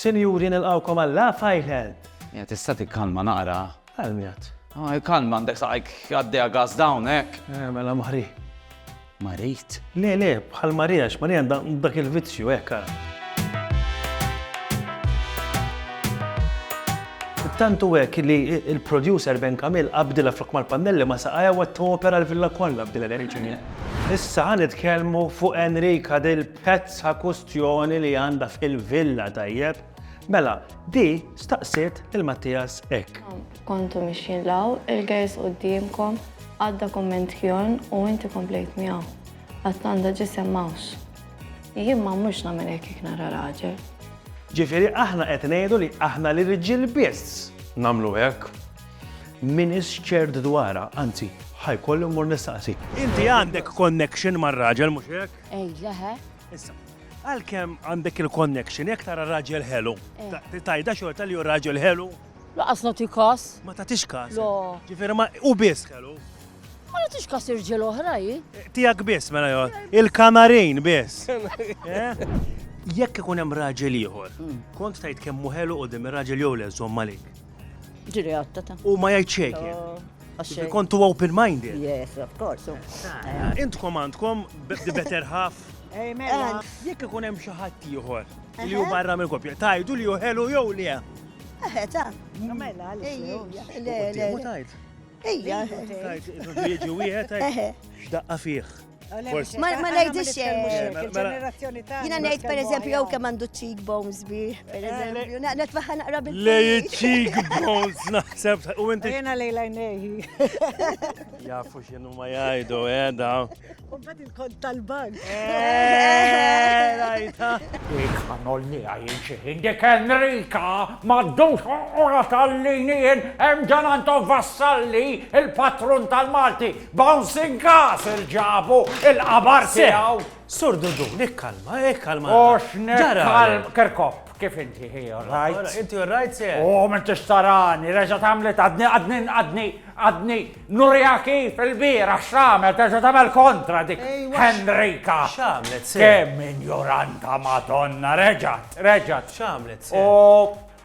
Sinjuri nilqgħukom għal Laugh Island! Mija tista' tikkalma naqra? Għal min għad? Hi kalma għandek saqajk għaddejha gass dawn hekk? Eh mela Marie. Marit? Le le bħal Marie għax Marie għandha dak il-vizzju hekk ara. Tant hu hekk li l-producer Ben Camille qabdilha flok mal-pannelli ma saqajha u qed topera l-villa kollha b'din l-enerġija. Issa ħa nitkellmu fuq Enrica Del Pezz ha kustjoni li għandha fil-villa tajjeb? Mela, di staqsiet lil Mattias hekk. Kontu mixjin 'l hawn, il-gejs quddiemkom, għadda kumment Kjorn u inti komplejt miegħu. Għatlanda ġisem m'hawnx. Jien ma mmurx nagħmel hekk jekk nara raġel. Ġifieri aħna qed ngħidu li aħna l-irġiel biss nagħmlu hekk? M'iniex ċert dwarha, anzi, ħa jkolli mmur nistaqsi. Inti għandek connection mar-raġel, mhux hekk? Ej, leħe. Issa, għalkemm għandek il-connection, jekk tara raġel ħelu, eh. tajda xorta li hu raġel ħelu. Laqas nagħti kas. Ma tagħtix kas. Ġifieri ma u biss ħelu. Ma nagħtix kas irġiel oħra hi. Eh, tiegħek biss mela jgħod. Il-kanarin biss. Eh? Jekk ikun hemm raġel ieħor, hmm. kont tajt kemm ħelu u dim ir-raġel jew le żomm għalik. Ġiri għatta ta'. U ma jgħid xejn. Ġifi kontu open minded. Yes, of course. Eh. Intkom għandkom the better half. Amen. Jekk ikun hemm xi ħadd ieħor li hu barra minn kopja, tajdu li hu ħelu jew li eh. Eħe, ta. Mela, le, le, le. Ejja, tajt, wieħed, x'daqqa fih. Ma ngħidx xejn. Jiena ngħid pereżempju jew kemm għandu cheekbones bi, pereżempju. Eh, Naqnet waħħa naqra bil. Lej cheekbones naħseb u inti. Jiena lejla ngħejji. Jafu x'inhu ma jgħidu qiegħda. Eh, u mbagħad il-kont tal-bank. Eh, rajta. Għanol li għajin xieħin dik Enrika maddux ora tal-linien hemm ġanan vassalli il-patrun tal-Malti Bouncing Castle ġabu il-qabar tiegħu. Sur Dudu, nikkalma, ikkalma. Eh, Ox nikkalma. Kerkop, kif inti hi, alright? Inti alright, se? Oh, minn tixtarani, reġa tagħmlet għadni, għadni, għadni, għadni, nurja kif il-bira x'għamel, terġa tagħmel kontra dik Henrika. X'għamlet, se? Kemm injoranta Madonna, reġat, reġat. X'għamlet, se? Oh,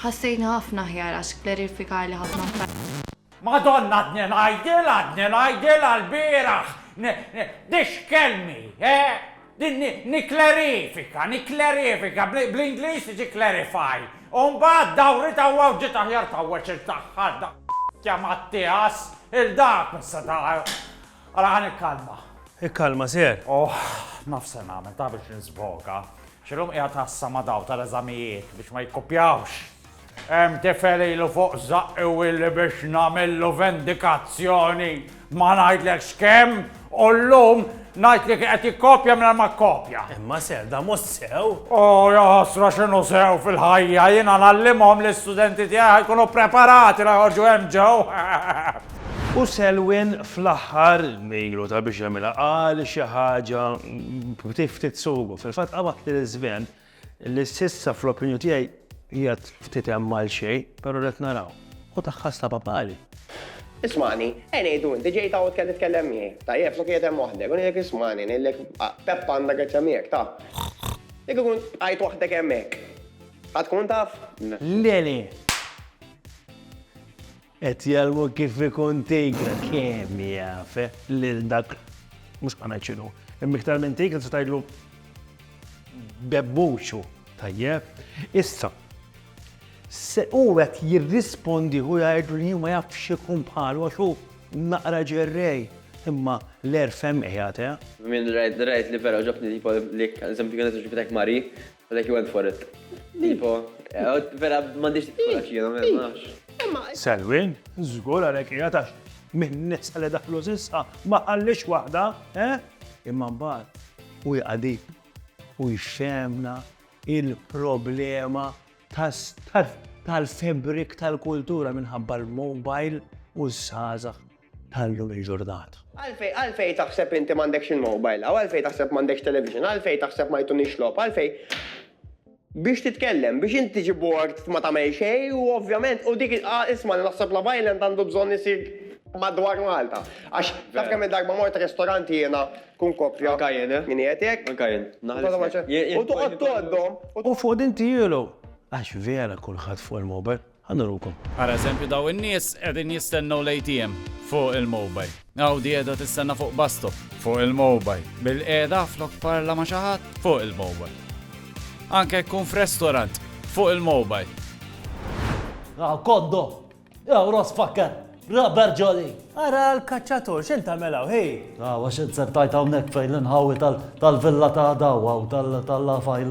Ħassejtni ħafna aħjar għax klerifikali ħafna affarijiet. Madonna għadni ngħidilha għadni ngħidilha lbieraħ Dixxkellni eh! Nikklerifika nikklerifika bl-Ingliż tiġi clarify u mbagħad dawrit hawn u ġiet aħjar tgħawweġ il-daħħal daqstant jamattias il-dak mhux se tagħraf Ara ħa nikkalma. Ikkalma Sir. Oh, naf se nagħmel, taf biex nisfoka. X'illum qiegħed ħassa ma' daw tal-eżamijiet biex ma jikkupjawx. Hemm tifel ilu fuq żaqqi u illi biex nagħmillu vendikazzjoni ma ngħidlekx kemm u llum ngħid li qed jikkopja minn ma kkopja. Imma Sir, da mhux sew. Oh, ja ħasra x'inhu sew fil-ħajja, jiena nallimhom li studenti tiegħi ħajkunu preparati la joħorġu hemm ġew. U Selwyn fl-aħħar, ilu ta' biex jagħmilha, qal xi ħaġa b'ftit ftit sugu. Fil-fatt qabad lil Sven li s'issa fl-opinju tiegħi qiegħed ftit hemm għal xejn, però rrid naraw. U tagħha stabha pari. Ismagħni, ejn ngħidu inti ġejt hawn qed titkellem miegħi. Tajjeb, sa qiegħed hemm waħdek. U ngħidlek ismagħni, ngħidlek Peppa għandha grezzja miegħek, taf. Jekk ikun bqajt waħdek hemmhekk, ħa tkun taf? Le, le. Qed jgħallmu kif ikun tigre. Kemm jaf lil dak mhux ħa ngħid x'inhu. Imma iktar minn tigre tista' tgħidlu bebbuċu. Tajjeb. Issa, hu qed jirrispondi u jgħidlu li hu ma jafx ikun bħalu għax hu naqra ġerrej. Imma l-għerf hemm qiegħed, eh! Minn rajt li vera għoġobtni tipo l-eżempju li kienet ġibtilek Marie, Like you went for it. Tipo, vera m'għandix kuraġġ jiena ma nafx. Selwyn, żgur għalhekk qiegħed għax minn nisa li daħlu s'issa ma ħallix waħda, eh? Imma mbagħad u jqadi u jxemna il-problema tal-febrik tal-kultura minħabba l-mobile u ż-żgħażagħ ta' llum il-ġurnata. Għalfejn, għalfejn taħseb inti m'għandekx il-mobile, aw għalfejn taħseb m'għandekx television, għalfejn taħseb ma jtunix logħob, għalfejn biex titkellem, biex int tiġi bored ma tagħmel xejn u ovvjament u dik ah isma' li naħseb Love Island għandu bżonn isir madwar Malta. Għax taf kemm il-darba mort restorant jiena kun koppja. Anka jien, eh. Min qiegħed hekk? Anka jien. U toqgħod tgħoddhom. U fuq din tiegħlu. Għax vera kulħadd fuq il-mobile. Ħa nurukom. Ara eżempju daw in-nies qegħdin jistennew l-ATM. Fuq il-mobile. Hawn di qiegħda tistenna fuq bus stop. Fuq il-mobile. Bilqiegħda flok parla ma' xi ħadd. Fuq il-mobile. Anke jekk tkun f'restaurant. Fuq il-mobile. Hawn kondo! Hawn Ross Fakker! Rubber Jolly! Ara l-kaċċatur x'in tagħmel hawn hi! Hawn għax inzertajt hawnhekk fejn l-inħawi tal-villa ta' daw hawn tal-lafajl.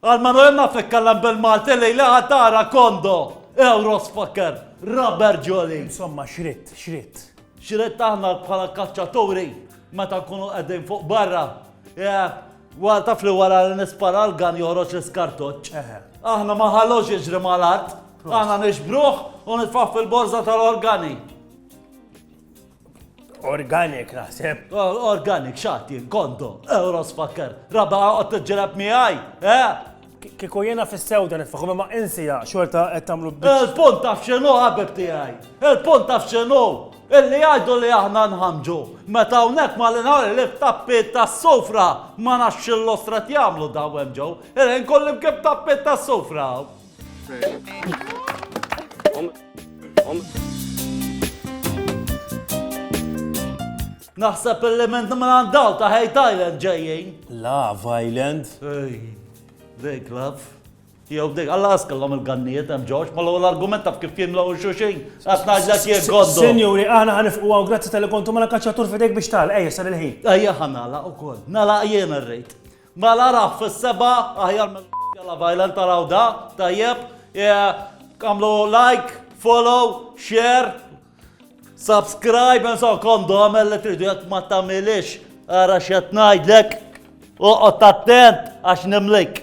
Għal Manuel naf itkellem bil-Malti li li għad tara kondo, euros fucker, rubber jolly. Insomma, xritt, xritt. Xritt aħna bħala kaċċaturi meta nkunu qegħdin fuq barra. Wara taf li wara li nispara l-gan joħroġ l-iskartoċ. Aħna ma ħallux jiġri mal-art. Aħna nixbruħ u nitfaħ fil-borza tal-organi. Organic naħseb. Organic xati, kondo, euro spakker, raba għot t-ġelab miħaj, eh? Kiku jena fis-sewda nitfaħu ma insija xorta qed tagħmlu Il-punt taf x'inhu ħabib tiegħi. Il-punt taf x'inhu. Illi għajdu li aħna nħamġu. Meta hawnhekk ma l-inħar li f'tappiet tas-sofra ma nafx l-ostrat jagħmlu daw hemm ġew. Illi nkolli bkib tappiet tas-sofra. Naħseb element nimran daw ta' Hate Island ġejjin. La, Island. Ej, dek laf. Jew dek, għalla għaskallom il-ganniet, hemm ġoġ, ma l-għol argument taf kif jimlaw il-xuxin. Għatnaġ l jek għoddu. Senjuri, għana għanifqu għaw, grazzi tal-kontu ma la kaċċatur fidek biex tal, ejja, sar il-ħin. Ejja, għanala u kol, nala jena rrejt. Mela rah fis-seba' aħjar mela Jalla Vajla ntaraw da, tajjeb. Għamlu like, follow, share, subscribe, and so kondu għamel li tridu jek ma tamilix. Ara xet najdlek, uqot attent għax nimlik.